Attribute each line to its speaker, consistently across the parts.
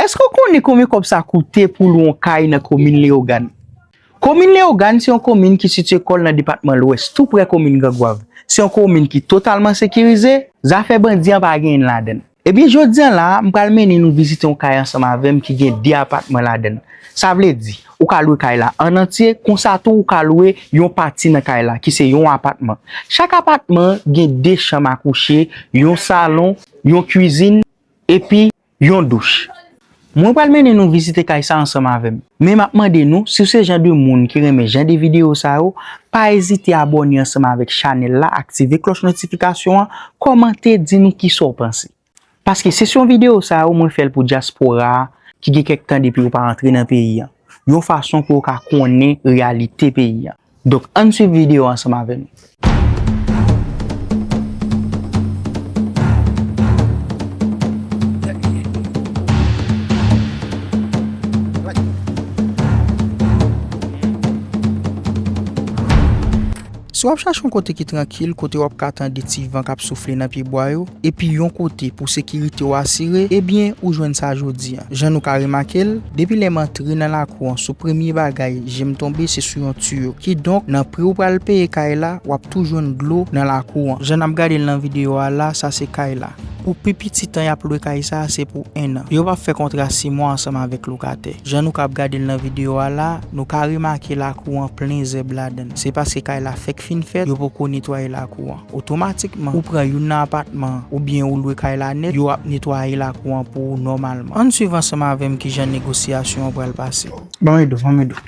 Speaker 1: Èske w konnen konbyen kòb sa koute pou lwe yon kay nan komin Leyogàn? Komin Leyogàn se yon komin ki sitye kò l nan depatman Lwès, tou prè komin Grangwav. Se yon komin ki totalman sekirize, zafè bandi an pa genyen ladan l. Ebyen jodi an la a, m pral mennen nou vizite yon kay ansanm avè m ki gen 2 apatman ladan l. Sa vle di, ou ka lwe kay la an antye, konsa tou ou ka lwe yon pati nan kay la ki se yon apatman. Chak apatman gen 2 chanm a kouche, yon salon, yon kwizin epi. Yon douch. Mwen pral mennen nou vizite kay sa ansanm avèm. Men map mande nou siw se jan de moun ki renmen jan de video sa yo pa ezite abòne ansanm avèk chanèl la aktive klòch notifikasyon an kòmante di nou kisa w panse paske sesyon video sa yo mwen fèl pou dyaspora a ki gen kèk tan depi yo pa antre nan peyi an yon fason pou yo ka konnen reyalite peyi an. Donk ann swiv video ansanm avè nou. Si w ap chache yon kote ki trankil, kote w ap ka tande ti van k ap soufle nan pyebwa yo, epi yon kote pou sekirite w asire, ebyen ou jwenn sa jodi an. Jan nou ka remake l, depi lè m antre nan lakou an sou premye bagay je m tonbe se sou yon tiyo. Kidonk, nan pri ou pral peye kay la, w ap tou jwenn dlo nan lakou an. Jan n ap gade l nan videyo a la, sa se kay la. Pou pi piti tan y ap lwe kay sa a se pou ennan. Yo pa fè kontra si mwa ansanm avèk lokatè. Jan nou ka ap gade l nan videyo a la, nou ka remake lakou an plen zèb ladan l. Se paske kay la fèk fin fèt, yo poko netwaye lakou an. Otomatikman, ou pran youn nan apatman an oubyen ou lwe kay la nèt, yo ap netwaye lakou an pou ou nòmalman. Ann swiv ansanm avè m kijan negosyasyon an pral pase. Ban m ede w, ban m ede w.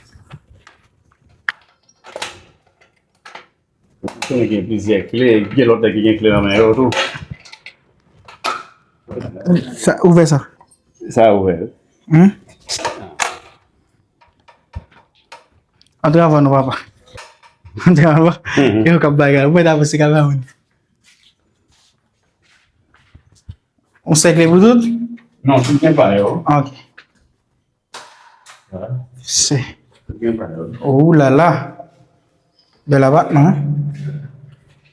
Speaker 1: Ou
Speaker 2: konnen gen plizyè kle, gen lòt nèg ki gen kle nan men yo tou.
Speaker 1: Ouvè sa. Sa a ouvè wi. Antre avan non papa. Antre avan. E yo kap bagay. Ou mwen ta pase kamera moun. On sèkle pou tout? Non, tout gen pa
Speaker 2: yo. Ok. Se. Tout gen
Speaker 1: pa
Speaker 2: yo. Ou la la.
Speaker 1: Bel abatman.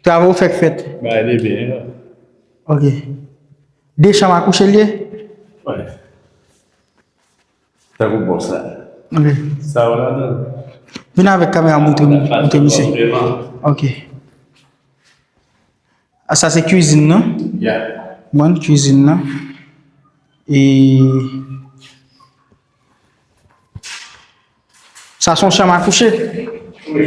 Speaker 1: Travay ou fèk fèt. Ba e de
Speaker 2: byen. Ok.
Speaker 1: De chanm akouche liye? Wè.
Speaker 2: Sa kou bon sa. Ok. Sa
Speaker 1: ou la
Speaker 2: do. Vin avèk
Speaker 1: kamera moutre moutre misye. Ok. A ah, sa se cuisine nan? Ya. Mwen
Speaker 2: cuisine nan.
Speaker 1: E... Sa son chanm akouche? Oui.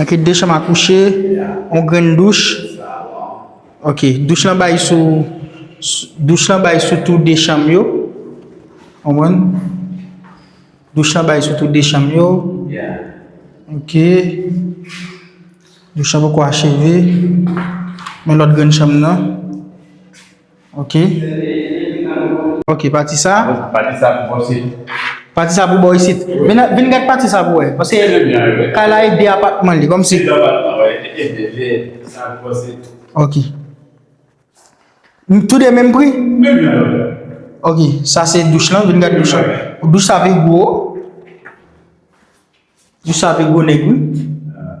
Speaker 1: Ok 2 chanm a kouche, on grenn douch, ok douch lan bay sou douch lan bay sou tou 2 chanm yo konprann douch lan bay sou tou 2 chanm yo
Speaker 2: ok
Speaker 1: douch lan poko acheve men lòt grenn chanm nan. Ok Ok pati sa Pati sa pou bò
Speaker 2: sit Pati sa pou bò
Speaker 1: isit Vin gad pati sa pou wè Pase kay la e de apatman li Kòmsi E de apatman wè E de de Sa
Speaker 2: pou bò
Speaker 1: sit Ok Tou de menm pri Menm jan yo
Speaker 2: Ok
Speaker 1: sa se douch lan Vin gad douch lan Douch sa pi gwo Douch sa pi gwo nèg wi Ahh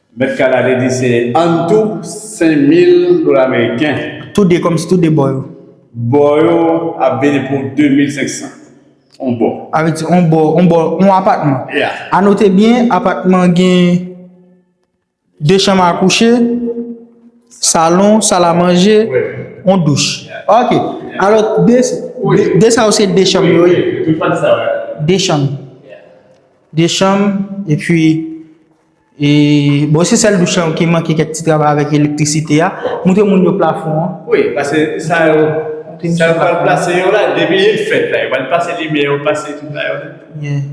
Speaker 2: Mèt Kala te di se antou 5000 dola meriken. Tou de kòmsi tou
Speaker 1: de bò yo. Bò yo
Speaker 2: ap vini pou 2500 on bò. A vle di on bò, on bò,
Speaker 1: on apatman. Ya. A note byen,
Speaker 2: apatman
Speaker 1: an gen 2 chanm a kouche, salon, sal a manje, on douch. Ok. Alò, 2, 2 sa yo se 2 chanm yo ye? Wi, tout pati sa
Speaker 2: yo. 2 chanm.
Speaker 1: Ya. 2 chanm, epi. E bon se sèl douch lan ki manke kèk ti travay avèk elektrisite a. Moutre moun yo plafon an. Wi, pase sa
Speaker 2: yo, sa yo pral plase yo la, depi li fèt la, yo pral pase limyè, yo pase tout la yo. Byen.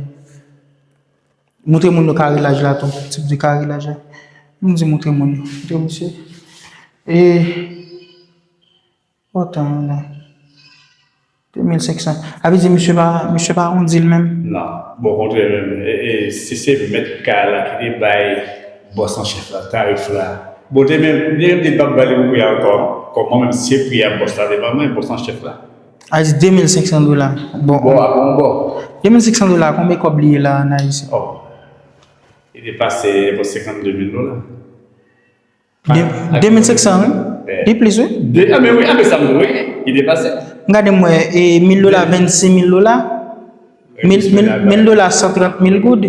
Speaker 1: Moutre moun yo karilaj la tou, ti bgy karilaj la. Moun di moutre moun yo, moutre misye. E. Bon tan moun an. 2500. A vle di misye pa, misye pa awondi l menm? Non. Bon kontrè
Speaker 2: menm, e si se mèt kay la ki te bay bòs an chèf la tarif la, bon te menm, li menm li pap ba li menm pri a ankò, kòm mwen menm se pri a bòs la te ban mwen, bòs an chèf la. A vle di 2500
Speaker 1: dola. Bon. Bon a pou yon bò. 2500 dola konbe kòb li ye la an ayisyen? Oh.
Speaker 2: Li depase enpò 52 mil dola. 2500 wi,
Speaker 1: li plis wi. A men wi, a men sa m wè,
Speaker 2: li depase. M gade m wè, e 1000
Speaker 1: dola 26000 dola, 1000 dola 130000 goud.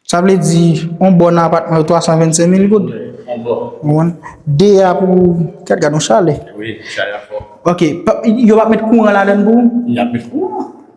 Speaker 1: Sa vle di, on bon nan apatman yo 325000 goud. On bon. Ou konprann?
Speaker 2: De a
Speaker 1: pou, gad gad on chalè. Wi,
Speaker 2: chalè a fò. Ok, yo
Speaker 1: pa met kouran ladann pou ou? Y ap met kouran.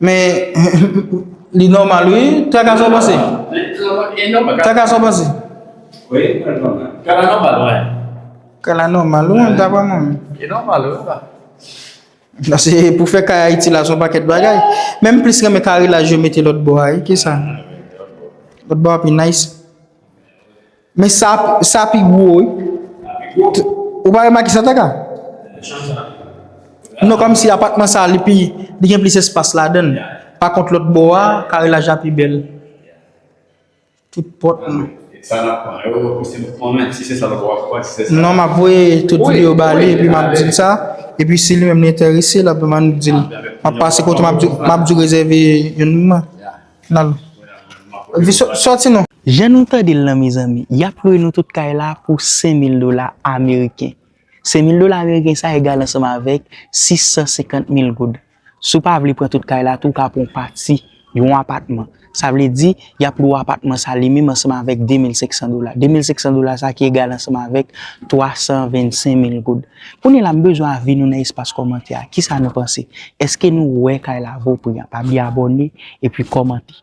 Speaker 1: Men li nòmal wi. Traka sa w panse? Traka sa w panse?
Speaker 2: Kala nòmal wi. Kala
Speaker 1: nòmal wi, dapre mwen. Li nòmal wi la. Pase pou fè kay Ayiti la son pakèt bagay. Men m plis renmen kare laj yo mete lòt bò a wi. Kisa? Lòt bò a pi nice. Men sa sa pi gwo wi. Sa pi gwo. Ou pa remake sa taka? Nan chanm sa sa pi gwo. Non kòmsi apatman sa li pi li gen plis espas ladan. Pa kont lòt bò a kare laj la pi bèl. Tout pòt nou. E sa nap pran
Speaker 2: yo pou se pou konnen si se sa lòt wap pran si se sa. Non map voye tout
Speaker 1: video ba li epi map dil sa epi si li menm li enterese lap vin bannou dil. Map pase kote map di map di rezève youn nan. nan vi soti nou. Jan nou tande l lan mezanmi, yap lwe nou tout kay la pou 5000 dola ameriken. 5000 dola ameriken sa egal ansanm avèk 650 mil goud. Si w pa vle pran tout kay la tou w ka pran w pati, yon apatman. Sa vle di, yap lwe w apatman sa li menm ansanm avèk 2500 dola. 2500 dola sa ki egal ansanm avèk 325 mil goud. Kounye la m bezwen avi nou nan espas kòmantè a kisa nou panse eske nou wè kay la vo pri anpabli abòne epi kòmante.